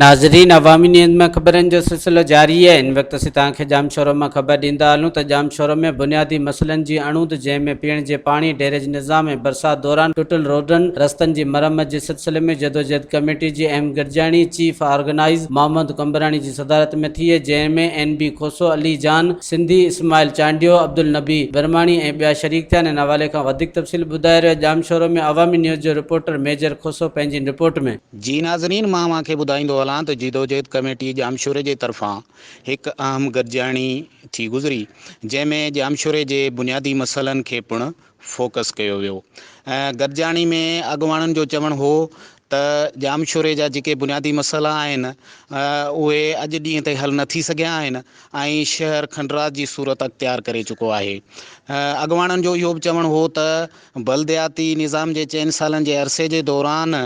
ناظرين عوامي نيوز ۾ خبرن جو سلسلو جاري آهي ان وقت اسين توهان کي ڄام شورو مان خبر ڏيندا هلون ته ڄام شورو ۾ بنيادي مسئلن جي اڻهوند جنهن ۾ پيئڻ جي پاڻي ڊيريج نظام ۽ برسات دوران ٽٽل روڊن رستن جي مرمت جي سلسلي ۾ جدوجهد ڪميٽي جي اهم گڏجاڻي چيف آرگنائيز محمد قمبراڻي جي صدارت ۾ ٿي، جنهن ۾ اين بي کوسو، علي جان سنڌي، اسماعيل چانڊيو، عبدالنبي برماڻي ۽ ٻيا شريڪ ٿيا. انهن حوالي کان وڌيڪ تفصيل ٻڌائي رهيو ڄامشورو ۾ عوامي نيوز جو رپورٽر ميجر کوسو پنهنجين رپورٽ ۾. جي ناظرين مان اوهان کي ٻڌائيندو هلان ته جدوجهد ڪميٽي ڄامشوري جي طرفان هڪ اهم گڏجاڻي ٿي گذري جنهن ۾ ڄامشوري جي بنيادي مسئلن کي پڻ فوڪس ڪيو ويو ۽ گڏجاڻي ۾ اڳواڻن جو چوڻ هو ته ڄامشوري جا جيڪي بنيادي مسئلا آهن اهي اڄ ڏينهن تائين حل نه ٿي سگهيا آهن ۽ شهر کنڊرات جي صورت اختيار ڪري چڪو آهي اڳواڻن جو اهو به چوڻ هو ته بلدياتي نظام جي چئن سالن جي عرصي جي دوران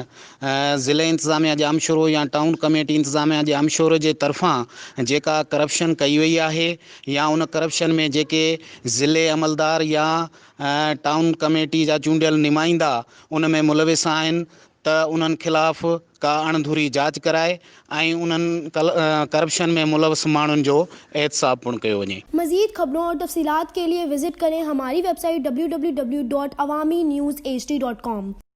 ضلعي انتظاميه ڄامشورو يا ٽائون ڪميٽي انتظاميه ڄامشورو جي طرفان جيڪا ڪرپشن ڪئي وئي آهي يا ان ڪرپشن ۾ جيڪي ضلعي عملدار يا ٽائون ڪميٽي جا چونڊيل نمائندا ان ۾ ملوث آهن ته انهن خلاف ڪا اڻ ڌري جاچ ڪرائي ۽ انهن ڪرپشن ۾ ملوث ماڻهن جو احتساب پڻ ڪيو وڃي. مزيد خبرون اور تفصيلات کے ليے وزٽ ڪرين ھماري ويب سائيٽ www.awaminews hd.com.